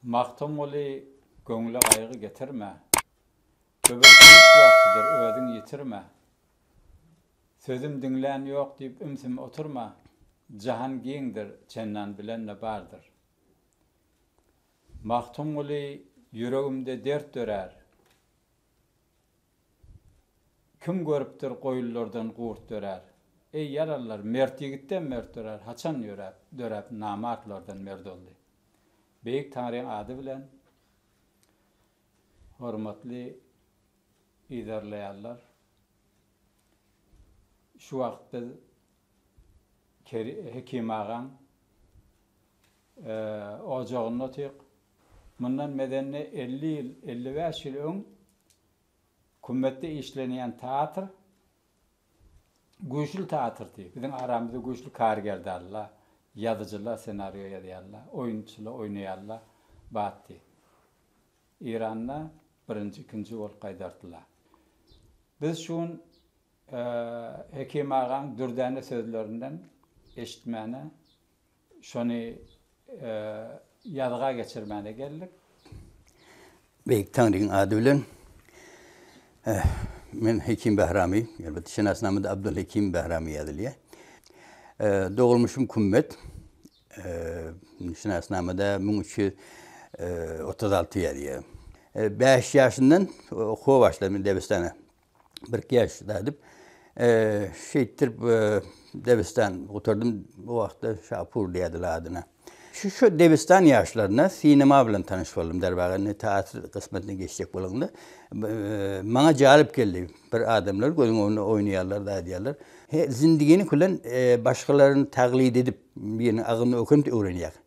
Magtymguly, göwňle gaýgy getirme, Göbekdeýiş wagtydyr, özüň ýitirme. Sözüm diňlän ýok diýip ümsüm oturma, Jahan giňdir, çendan bilen-de bardyr. Magtymguly, ýüregimde dert dörär. Kim görüpdir goýunlardan gurt dörär. Eý, ýaralylar, mert ýigitden mert dörär, haçan ýöräp, döräp namartlardan mert oldy? Beýik Taňryň ady bilen, hormatly yzarlaýanlar, şu wagt biz Hekim agaň ojagynda otyk. Mundan mezenni elli ýyl, elli bäş ýyl öň Kümmetde işlenýän teatr güýçli teatrdy. Biziň aramyzda güýçli kargerdarlar, ýazyjylar senario ýazýarlar, oýunçylar oýnaýarlar batdy. Eýranda birinji, ikinji bolup gaýdardylar. Biz şu gün Hekim agaň dürdäne sözlerinden eşitmäne Şony ýazga geçirmäne geldik. Beýik Taňryň ady bilen. Men Hekim Bahramy. Elbetde şenasnamada Abdulhekim Bahramy ýazylýar. Dogulmuşym Kümmet. Şenasnamada müň üç ýüz otuz alty ýazýar. Bäş ýaşyndan okuwa başladym Debistana. bir keş dädip, şeýtdirip debistan gutardym. O wagtda Şapur diýerdiler adyna. Şu-şu debistan ýaşlarynda sinema bilen tanyş boldum. Derwagyz indi teatr gysmatyna geçjek bolanda maňa jalp geldi. Bir adamlar gözüň öňünde oýnaýarlar-da aýdýarlar. He, zindigini külän başgalaryny taglid edip, biriniň agyny ökünip öwrenýär.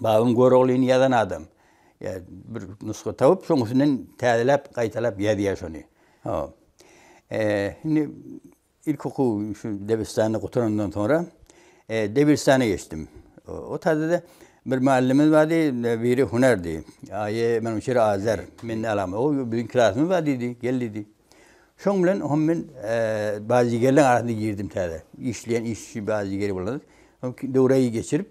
Babyň Göroglyny ýazan adam. Ýa bir nusga tapyp, şoň üstünden täzeläp, gaýtalap ýazýar şony. Ho. Indi ilki okuw şu Debiristanda gutarandan soňra Debiristana geçdim. O taýda-da bir mugallymymyz bardy, biri hünärdi. Aýe, men o çeri Azer, men nälaňmy? O biziň klasymyz bar diýdi, gel diýdi. Şoň bilen hom men badyýgerleriň arasyna girdim täze. Işleýän işçi badyýgeri bolan. Döwraýy geçirip,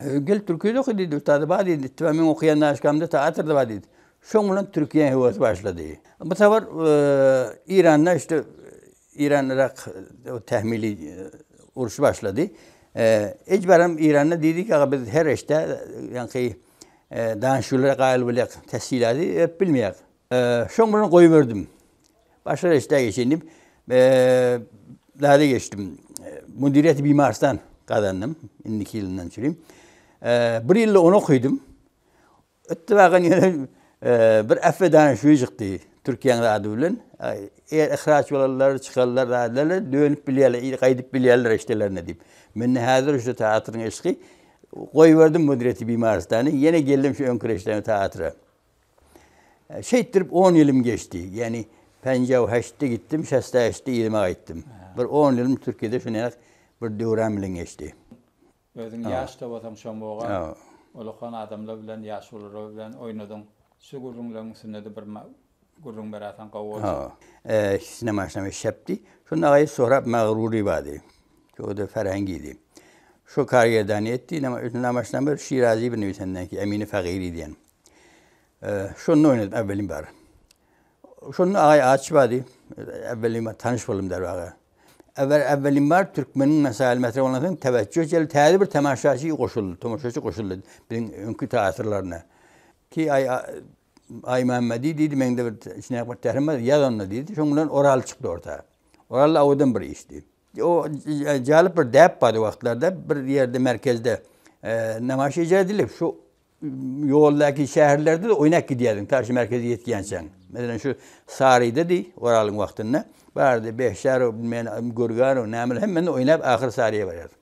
Gel türkide oky diýdi, ustady bar diýdi. Ittiba meň okaýan daşgamda teatrda bar diýdi. Şoň bilen türkiýäň höwesi başlady. Bu sapar Eýranda işte Eýran Yrak tähmili urşy başlady. Ejbaram Eýranda diýdi ki, biz her işde ýaňky danyşyglara gaýyl bolýak, tessilady öp bilmeýäk. Şoň bilen goýberdim. Başga reşdä geçeýin diýip, zada geçdim. Müdiriýeti bimarsdan gazandym, indiki ýylyndan çüri. Bir ýylda ony okydym. Ittibakan ýene bir affedana şüwi çykdy, Türkiýäň zady bilen. Eger yhraç bolarlar, çykarlar, zat ederler, dönüp bilýärler, ir gaýdyp bilýärler reşdelerine diýip. Mende häzir şu teatryň yşky. Goýberdim müdiriýeti bimarystany, ýene geldim şu öňki reşdäme, teatra. Şeýtdirip on ýylym geçdi. Ýagny Penjaw heştde gitdim, şesta heştde yzyma gaýtdym. Bir on ýylym Türkiýede şuneýak bir döwran bilen geçdi. Özüň ýaş-da bolsaň şomoga ulakan adamlar bilen, ýaşulular bilen oýnadyň. Şu gürrüňleriň üstünde-de bir gürrüň beräýseň gowy boljak. Ikisine maşynam şepdi. Şonda agaýy Sorap Magrury bardy. Şo-da Ferhengidi. Şo karýerdany etdi. Ine, maşynam bir Şirazy bir nebisenden ki, Emini Fagyry diýen. Şonda oýnadym äwwelim bar. Şonda Agaý Aç bardy. Äwwelim bar, tanyş boldum derwaga. Äwel äwwelim bar türkmeniň mesaýyl metre bolan soň täwejjüh jel täze bir temaşaçy goşuldy, tomaşaçy goşuldy biziň öňki teatrlaryna. Ki aý Aý Mämmedi diýdi, meňde bir içine bir tärim bar, ýaz onda diýdi. Şoň bilen Oral çykdy orta. Oral awadan bir işdi. O jalyp bir däp bardy o wagtlarda, bir ýerde merkezde nemaýyş ejerdiler. Şu Ýoldaky şäherlerde-de oýnap gidýärdiň, ta şu merkeze ýetýänçäň. Meselem, şu Saryda diý, Oralyň wagtynda bardy, Behşarow, bilmeýän Görganow, nämeler, hemmende oýnap, ahyry Saryýa barýardyk.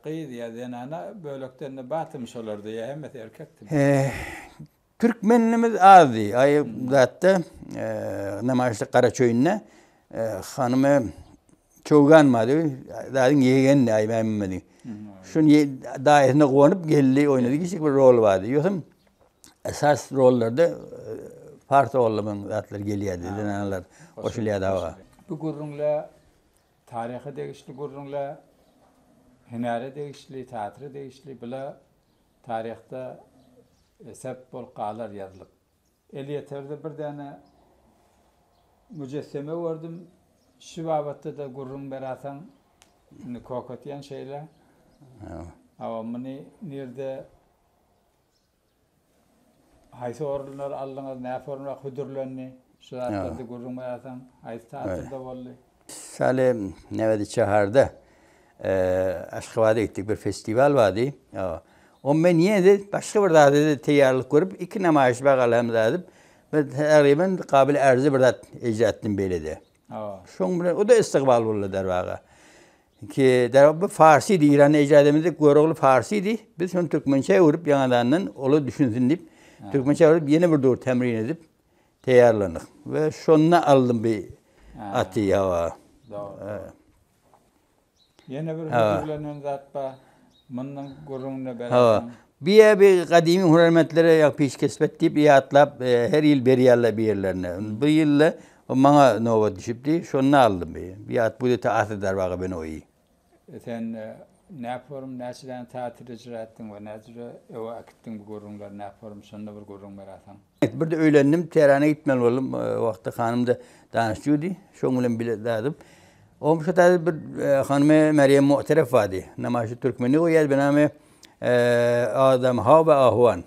Gyz ýa zenana bölekden-de bardymy şolarda ýa hemmesi erkekdimi? Türkmenimiz azdy. Aý, zatda, namaýyşlyk Garaçöýünde hanymy Çowgan maly, daýyň ýegeni Aý Mämmedim. Şun daýysyna gonup geldi, oýnady kiçik bir rol bardy. Ýösem esas rollarda e, Fars oglumyň zatlary gelýärdi, zenanlar goşulýardy hawa. Bu gürrüňle taryha degişli gürrüňle hünäre degişli, teatra degişli bula taryhda e, sebit bolup galar ýazylyp. Elýeterde bir däne müjesseme gördüm. Şu babatda-da gürrüň beräýseň, indi köketýän şeýle. Hawa, muny nirde, haýsy orundan aldyňyz, näformada hödürlendi? Şu zatlarda gürrüň beräýseň, haýsy teatrda boldy? Saly näbedi şäherde Aşgabada gitdik bir festiwal bardy. O men ýene-de başga bir zada teýýarlyk görüp iki namaýyş bagalam zady bir taryban gabyl ärze bir zat eýjatdym beýlede. Şoň bilen o-da istikbal boldy derwaga. Ki derwaga bu farsy Eýranda eýjat edemizde Görogly farsydy. Biz şony türkmençä öwrüp ýaňadandan ola düşünsin diýip türkmençä öwrüp ýene bir dur tämrin edip Teýýarlandyk we şonda aldym bi aty hawa. Ýene bir hödürlenen zat bar. Mundan gürrüňini berersiň. Biýe bi gadymy hünärmentlere ýa peşkesbet diýip ýatlap her ýyl berýärler bir ýerlerine. Bu ýylda maňa nobat düşüpdi. Şonda aldym bi. Bi at bu dete aty darbaga benoýi. Sen näp forum näçe däne teatr ejra etdiň we näce jüre öe akitdiň bu gurruňleri näp forum şonda bir gurruň berasaň. Birde öýlendim Tährana gitmeli boldum o wagtda hanymda danyş jüdi şoň bilen bile dadyp ogym şo taýda bir hanymy Merýem Mu'terefowa diý namaýşy türkmeni goýýady benami eee adamy hawa ahwan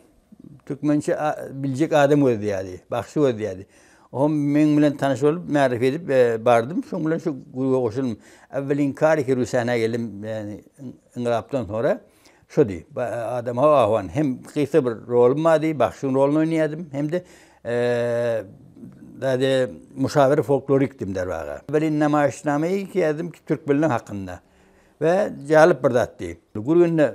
Türkmençe biljek adam gözleýärdi, bagşy gözleýärdi. Oňa meň bilen tanyş bolup, märife edip bardym. Şoň bilen şu gruba goşuldym. Äwwel inkar edip sähnä geldim, ýagny yňlapdan soňra şody. Adam hawa ahwan. Hem gysga bir rolum bardy, bagşyň roluny oýnaýardym, hem-de zady muşawyr folklorikdim derwaga. Welin namaýyşnama ilki ýazdymy Türkmenler hakynda we jalyp bir zatdy. Gürgende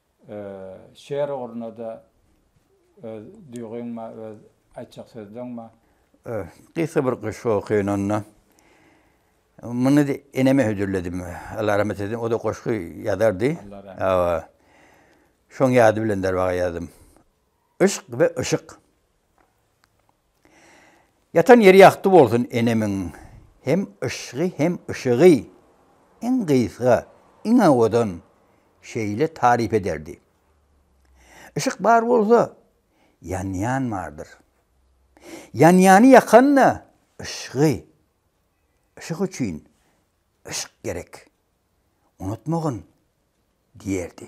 Şeýer ugruna-da öz duýgyňmy, öz aýtjak sözleňmi? Gysga bir goşgy okyny onda. Muny eneme hödürledim. Allah rahmet eýsin. O-da goşgy ýazardy. Hawa. Şoň ýady bilen derwaga ýazdym. Yşk we yşyk. Ýatan ýeri ýagty bolsun enemiň hem yşgy hem yşygy iň gysga iň owadan şeýle taryp ederdi. Yşyk bar bolsa ýanýan bardyr. Ýanýany ýakanda yşgy yşyk üçin yşk gerek unutmagyn diýerdi.